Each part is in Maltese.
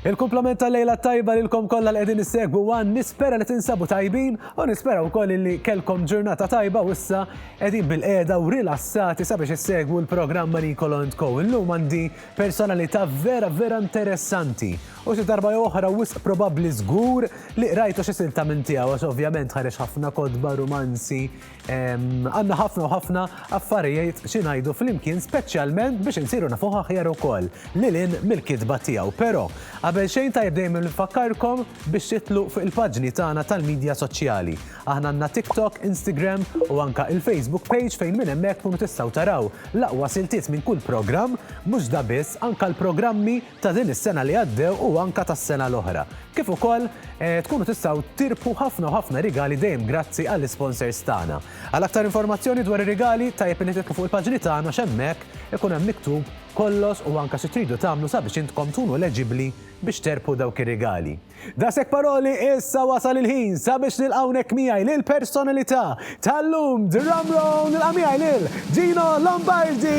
Il-kumplament tal-lejla t-tajba lilkom kollha li qegħdin issegwu one, nispera li tinsabu tajbin u nispera wkoll illi kellkom ġurnata tajba u issa qegħdin bil-qiegħda u rilassati sabiex issegwu l-programm ma' Niccolo and Co. Illum għandi personalità vera vera interessanti u xi darba jew oħra wisq probabbli żgur li qrajtu xi silta minn tiegħu għax ovvjament ħareġ ħafna kotba, rumanzi, Għanna ħafna u ħafna affarijiet xi ngħidu flimkien speċjalment biex insiru nafu aħjar ukoll lilin mill-kitba tiegħu. Però qabel xejn tajjeb dejjem nfakkarkom biex titlu fuq il-paġni tagħna tal-medja soċjali. Aħna għandna TikTok, Instagram u anka il-Facebook page fejn minn hemmhekk tkunu tistgħu taraw l-aqwa siltiet minn kull programm, mhux da biss anka l-programmi ta' din is-sena li għaddew u anke tas-sena l-oħra. Kif ukoll tkunu tistgħu tirbħu ħafna u ħafna rigali dejjem grazzi għall-isponsors tagħna. Għal aktar informazzjoni dwar ir-rigali tajjeb illi tidħlu fuq il-paġni tagħna għax hemmhekk ikun hemm miktub kollox u anke xi tridu tagħmlu sabiex intkom tkunu eleġibbli biex terbħu dawk ir-rigali. Daqshekk paroli issa wasal il-ħin sabiex nilqa' hawnhekk miegħi lil personalità tal-lum Drum Roll nilqa' miegħi lil Gino Lombardi!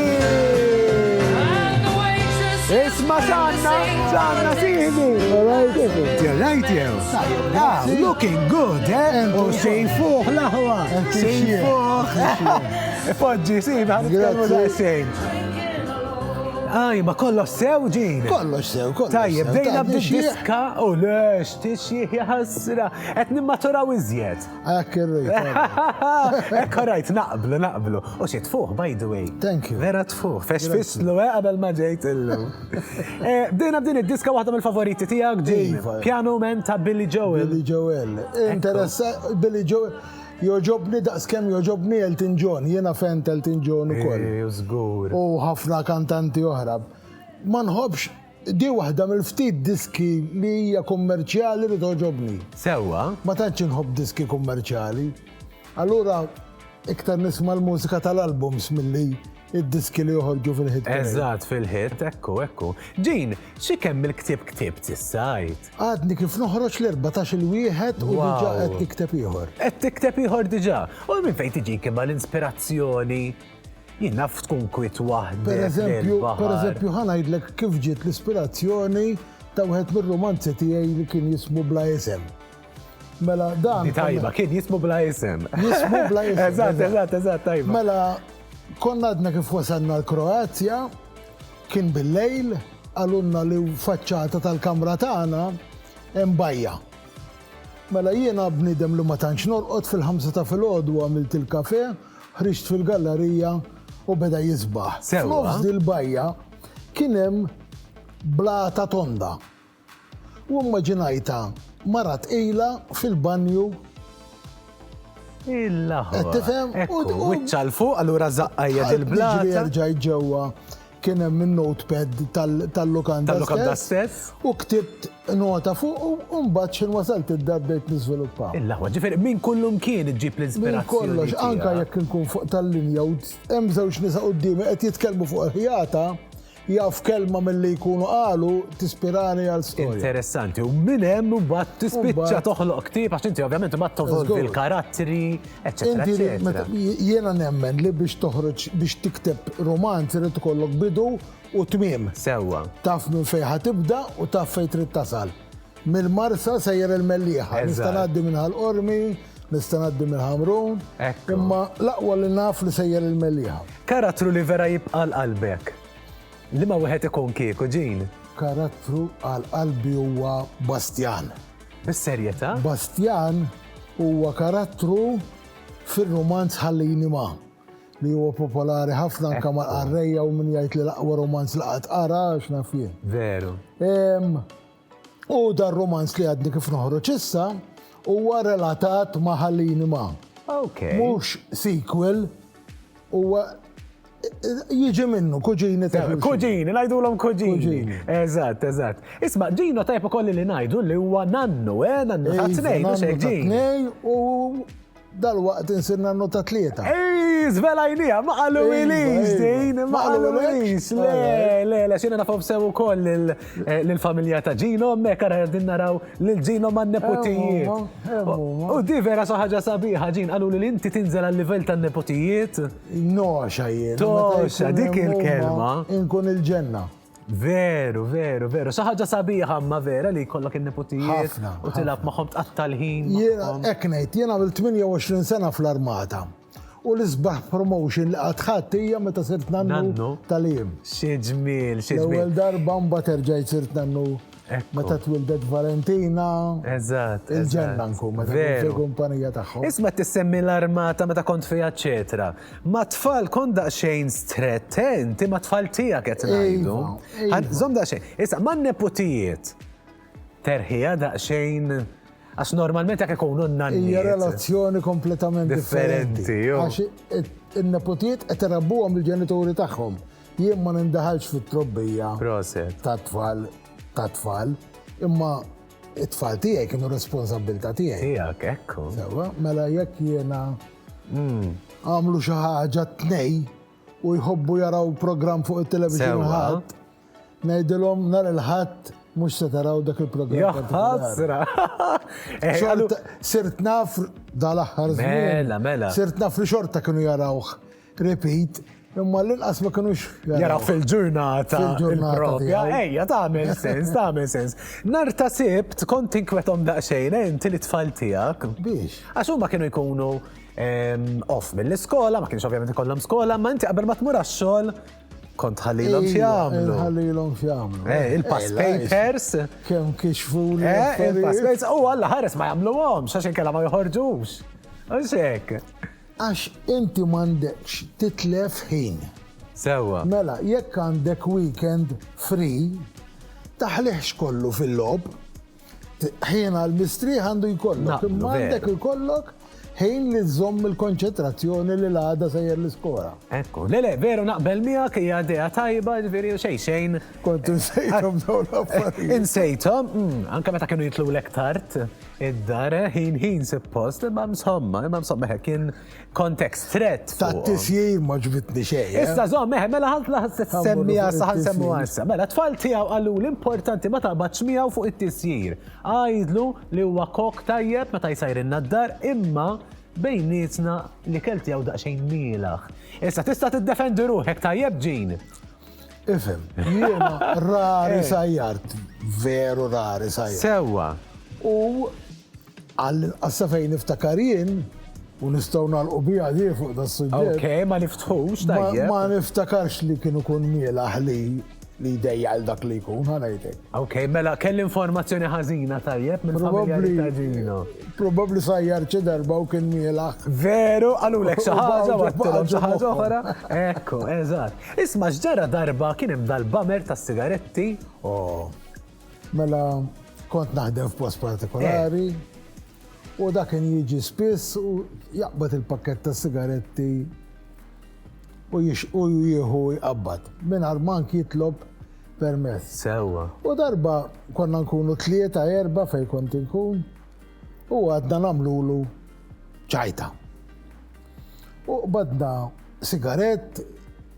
Isma' x'għandna, x'għandna sieħbi! You're right jew? Ah, looking good, eh? U sejfuh l-aħwa, sejfuh! Poġġi, sieħbi, ħan nitkellmu daqsxejn. Aj, ma kollox sew ġin. Kollox sew, kollox. Tajjeb, bdejna b'diska u lex, tixjieħ jħassra, qed nimmaturaw iżjed. Ek irrit. Ek rajt, naqblu, naqblu. U xi tfuħ, by the way. Thank you. Vera tfuħ, fex fislu, eh, qabel ma ġejt illu. Eh, bdejna b'din id-diska waħda mill-favoriti tiegħek ġin. Iva. Piano Men ta' Billy Joel. Billy Joel. Interessa, Billy Joel. Jogħġobni daqs kemm jogħġobni Elton John, jiena fan t'Elton John ukoll. Eh, żgur. U ħafna kantanti oħra. Ma nħobbx di waħda mill-ftit diski li hija kummerċjali li toġobni. Sewwa. Ma tantx inħobb diski kummerċjali. Allura iktar nisma' l-mużika tal-albums milli id-diski li joħorġu fil-hit. Eżatt fil-hit, ekku, ekku. Ġin, xi kemm il-ktib ktib tissajt? Għadni kif noħroġ l-14 il-wieħed u diġà qed tikteb ieħor. Qed tikteb ieħor diġà. U minn fejn tiġi imma l-inspirazzjoni jien naf tkun kwit waħda. Per eżempju, per eżempju, ħanajdlek kif ġiet l-ispirazzjoni ta' wieħed mir-romanzi tiegħi li kien jismu bla isem. Mela dan. Di tajba, kien jismu bla isem. Jismu bla isem. Eżatt, eżatt, eżatt, tajba. Mela, konna għadna kif wasanna l-Kroazja, kien bil-lejl, għalunna li faċċata tal-kamra tagħna hemm bajja. Mela jiena bnidem li ma tantx norqod fil-ħamsa ta' filgħodu għamilt il-kafe, ħriġt fil-gallerija u beda jisbaħ. Nofs dil-bajja kien hemm blata tonda. U immaġinajtha mara tqila fil-banju. Il-laħwa. Qed tifhem? Ekku, wiċċha 'l fuq, allura żaqqajja il-blata. Jiġri erġajt ġewwa kien hemm in-notepad tal-lukanda. Tal-lukanda stess. U ktibt nota fuq u mbagħad xi wasalt id-dar bdejt niżviluppa. Il-laħwa, ġifieri minn kullu mkien iġġib l-ispirazzjoni. Minn kollox, anke jekk inkun fuq tal-linja u hemm żewġ nisa quddiemi qed jitkellmu fuq il-ħjata, Jaf kelma milli jkunu qalu tispirani għal storja. Interessanti, u minn hemm mbagħad tispiċċa toħloq ktieb għax inti ovvjament ma tovolvi l-karattri, eċetera. Jiena nemmen li biex toħroġ biex tikteb romanz irid ikollok bidu u tmiem. Sewwa. Taf minn fejn ħa tibda u taf fejn trid tasal. Mill-Marsa sejjer il-Mellieħa. Nista' ngħaddi minn Ħal-Qormi, nista' ngħaddi minn Ħamrun. Imma l-aqwa li naf li sejjer il-Mellieħa. Karattru li vera jibqa' għal qalbek. Liema wieħed ikun kieku, Jean? Karattru għal qalbi huwa Bastjan. Bis-serjetà? Bastjan huwa karattru fir-rumanz Ħallini Ma' li huwa popolari ħafna anke mal-qarrejja u min jgħid li l-aqwa rumanz li qatt qara għax naf jien. Veru. U dar romanz li għadni kif noħroġ issa huwa relatat ma' Ħallini ma'. Okay. Mhux sequel huwa jiġi minnu, kuġini ta' Kuġini, najdulhom kuġini. Eżatt, eżatt. Isma, ġino tajb ukoll li najdu li huwa nannu, eh, nannu ta' tnejn, mhux hekk ġin. U Dalwaqt insirna nota tlieta. Ii, żvelajniha, ma qalulix din, ma qalulix. Le, le, le, xina nafhom sew ukoll lill-familja ta' Ġino, hemmhekk ara qegħdin naraw lil Ġino man-neputijiet. U di vera xi ħaġa sabiħa, Ġin, qaluli li inti tinżel għal-livell tan-neputijiet. Noxa jien. Toxa, dik il-kelma. Inkun il-ġenna. Veru, veru, veru. Saħħaġa sabiħa ma vera li jkollok in-neputijiet u tilab magħhom tqatta' l-ħin. Jiena hekk ngħid, jiena għamil 28 sena fl-armata. U l-isbaħ promotion li għadħat hija meta sirt nannu tal-im. Xi ġmiel, xi ġmiel. L-ewwel darba mbagħad erġajt sirt nannu Meta twildet Valentina. Eżatt. Il-ġenna nkun meta kont fil-kumpanija tagħhom. Isma' tissemmi l-armata meta kont fiha eċetera. Ma' tfal kont daqsxejn strett, eh, inti ma' tfal tiegħek qed ngħidu. Żomm daqsxejn. Issa ma' neputijiet. Terħija daqsxejn. Għax normalment jekk ikunu n-nannijiet. Hija relazzjoni kompletament differenti. Għax in-neputijiet qed irabbuhom il-ġenituri tagħhom. Jien ma nindaħalx fit-trobbija tat-tfal tat-tfal, imma it-tfal tiegħi kienu responsabbilta tiegħi. Tiegħek, ekku. Sewa, mela jekk jiena hmm. għamlu xi ħaġa tnej u jħobbu jaraw programm fuq it-television ħadd, ngħidilhom nhar il-ħadd mux se taraw dak il-programm. Jaħħasra! Eh, sirt naf dal-axħar Mela, mela. Sirt naf li xorta kienu jarawħ Repeat, imma l-inqas ma kinux. Jaraw fil-ġurnata. Fil-ġurnata. Ejja, tagħmel sens, tagħmel sens. Nar ta' sibt kont tinkwetom daqsxejn, eh, inti li tfal tiegħek. Biex. Għax huma kienu jkunu ehm, off mill-iskola, ma kienx ovvjament ikollhom skola, ma inti qabel ma tmur għax-xogħol kont ħallilhom x'jagħmlu. Ħallilhom x'jagħmlu. Eh, il-pass papers. Kemm kixfu eh, il-pass papers. U għalla ħares ma jagħmluhomx għax inkella ma joħorġux. Għaxek. Għax inti m'għandekx titlef ħin. Sewwa. Mela, jekk għandek weekend free, taħliħx kollu fil-logħob. Ħin għall-mistrieħ għandu jkollok, imma għandek ikollok ħin li żomm il-konċentrazzjoni li l-għada sejjer l-iskola. Ekku, le le, veru naqbel miegħek hija idea tajba, ġifieri xejn xejn. Kont insejthom dawn l-affarijiet. Insejthom, mm, anke meta kienu jitlu l-ektart. id-dar, eh, ħin ħin suppost, imma msomma, imma msomma, eh, kien kontekst threat. Ta' tisjir ma ġbitni xej. Eh. Issa zom, meħe, mela ħalt laħas semmi għassa, ħalt semmi għassa. Mela, tfal tijaw għallu l-importanti ma ta' baċmijaw fuq it-tisjir. Għajdlu li huwa kok tajjeb meta jisajrinna d-dar, imma bejnietna li kelti għaw daqxejn milaħ. Issa tista' tiddefendi ruħek tajjeb ġin. Ifem, jiena rari eh. sajjart, veru rari sajjart. Sewa. U għassa fejn niftakar jien, u nistaw nalqu bija di fuq da s-sujġet. Ok, ma niftħux, tajjeb. Ma niftakarx li kienu kun miela ħli li dejja għal dak li jkun ħanajtek. Ok, mela kell informazzjoni ħażina tajjeb minn probabbli taġino. Probabbli sajjar ċi darba u kien miela. Veru, għalulek xi ħaġa, xi ħaġa oħra. Ekku, eżatt. Isma' x'ġara darba kien hemm dal-bummer tas-sigaretti, oh. Mela kont naħdem f'post partikolari u dak kien jiġi spiss u jaqbad il-pakkett tas-sigaretti u jixqu u jieħu jqabbad mingħajr mank jitlob permess. Sewwa. U darba konna nkunu tlieta erba' fejn kont inkun u għadna nagħmlulu ċajta. U qbadna sigarett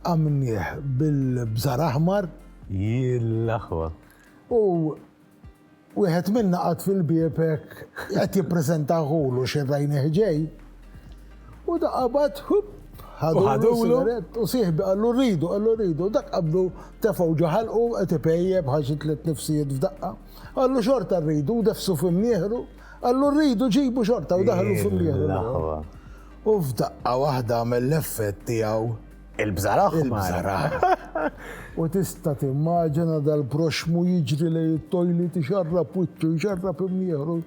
għamilnieh bil-bżar aħmar. Jill-aħwa. U wieħed minna qad fil-bieb hekk qed jippreżenta ħulu xi rajnieh ġej. U da qabad hup ħadulu u sieħbi qallu rridu, qallu rridu, dak qabdu tefgħu ġaħalqu qed ipejjeb ħaġi tliet nifsijiet f'daqqa. Qallu xorta rridu, defsu fim nieħru. Qallu rridu ġibu xorta u daħlu f'imnieħru l-aħwa. U f'daqqa waħda għamel l-effett tiegħu. Il-bżaraħ. Il-bżaraħ. U tista' timmaġina dal-proxmu jiġri lej it-tojli tixarrab wiċċu, jxarrab imnieħru,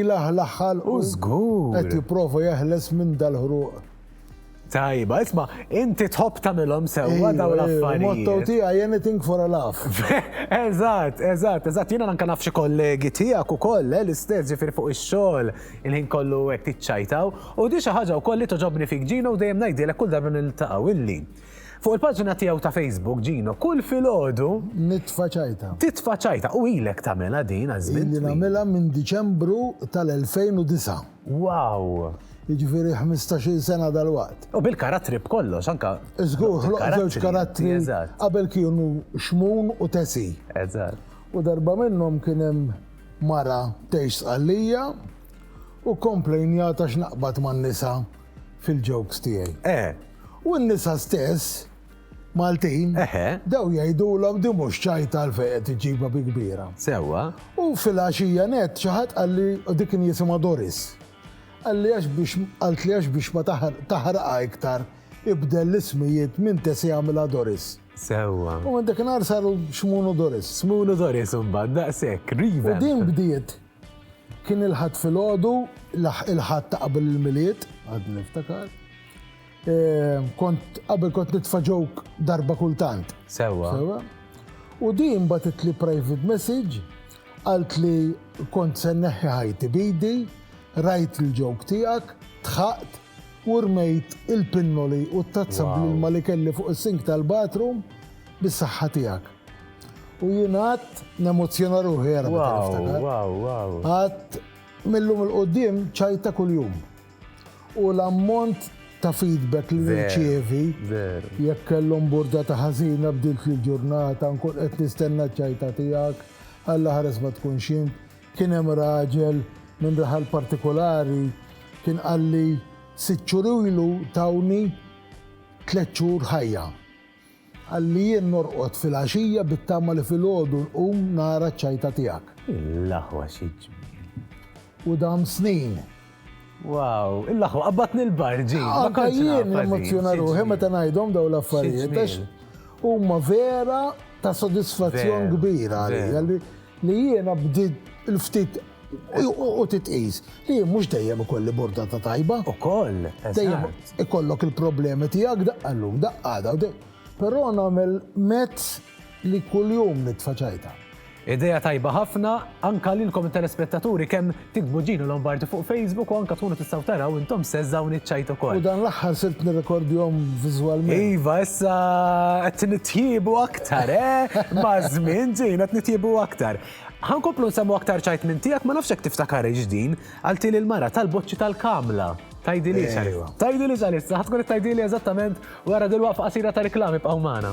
ilaħlaħħal u żgur qed jipprova jeħles minn dal-ħruq. Tajba, isma, inti tħobb tagħmilhom sewwa daw l-affarijiet. Motto tiegħi anything for a laugh. Eżatt, eżatt, eżatt, jiena anke naf xi kollegi tiegħek ukoll eh, l-istess ġifieri fuq ix-xogħol il-ħin kollu hekk tiċċajtaw. U di xi ħaġa wkoll li toġobni fik Ġino u dejjem ngħidilek kull darba niltaqgħu illi. Fuq il-paġna tiegħu ta' Facebook Ġino, kull filgħodu nitfa' ċajta. Titfa' ċajta u ilek tagħmilha din għaż-żmien. Illi nagħmilha minn Diċembru tal-2009. Wow! Jiġifieri ħmistax-il sena dalwaqt. U bil-karattri b'kollox, anke. Żgur, ħloqt żewġ karattri qabel kienu Xmun u Tesi. Eżatt. U darba minnhom kien hemm mara tgħix Sqallija u komplejnjat għax naqbad man-nisa fil-jokes tiegħi. Eh! U n-nisa stess Maltin, bdew jgħidulhom din mhux ċajta għalfejn qed iġġibha bi kbira. Sewwa. U filgħaxija nett xi ħadd qalli, u dik kien jisimha Doris, qalli għax biex qaltli għax biex ma taħraqha iktar ibdel l-ismijiet minn Tessie għamilha Doris. Sewwa. U minn dakinhar saru Xmun u Doris. Xmun u Doris imbagħad daqshekk, rieven. U din bdiet Kien il-Ħadd filgħodu, il-Ħadd ta' qabel il-Milied, għadni niftakar. Kont qabel kont nitfa' joke darba kultant. Sewwa. Sewwa. U din bagħtitli private message, qaltli kont se nneħħi ħajti b'idi, rajt il-joke tiegħek, dħaqt, U rmejt il-pinnoli u t-tazza bl-ilma li kelli fuq is-sink tal-bathroom bis-saħħa tiegħek. U jien għadt nemozzjona ruħi ara meta niftakar. Għadt mil-lum il-quddiem ċajta kuljum. U l-ammont ta' feedback li nirċievi jekk kellhom burdata ħażina bdiltli l-ġurnata, nkun qed nistenna ċ-ċajta tiegħek, Alla ħares ma tkunx int. Kien hemm raġel minn raħal partikulari kien qalli sitt xhur ilu tawni tliet xhur ħajja. Qalli jien norqod filgħaxija bit-tama li filgħodu nqum nara ċ-ċajta tiegħek. L-aħwa xi ġmiel! U dam snin. Wow, il-laħwa qabbatni l-bar ġi. Anka jien l-emozzjona ruħi meta ngħidhom daw l-affarijiet għax huma vera ta' sodisfazzjon kbira għalija li jiena bdiet il-ftit u titqis li jien mhux dejjem ikolli borda ta' tajba. Ukoll. Dejjem ikollok il-problemi tiegħek daqqa llum, daqqa daw. Però nagħmel mezz Li kuljum nitfa' ċajta. Idea tajba ħafna, anka lilkom it-telespettaturi kemm tiktbu Gino Lombardi fuq Facebook u anka tkunu tistgħu taraw intom stess dawn iċ-ċajt ukoll. U dan l-aħħar sirt nirrekordjhom viżwalment. Iva, issa qed nitjiebu aktar, eh? Maż-żmien, Gino, qed nitjiebu aktar. Ħa nkomplu nsemmu aktar ċajt minn tiegħek, ma nafx jekk tiftakarhiex din, qaltili l-mara tal-boċċi tal-kamla. Tgħidilix għalissa. Tgħidilix għalissa, ħa tkun qed tgħidili eżattament Wara dil-waqfa qasira ta' riklami bqgħu magħna.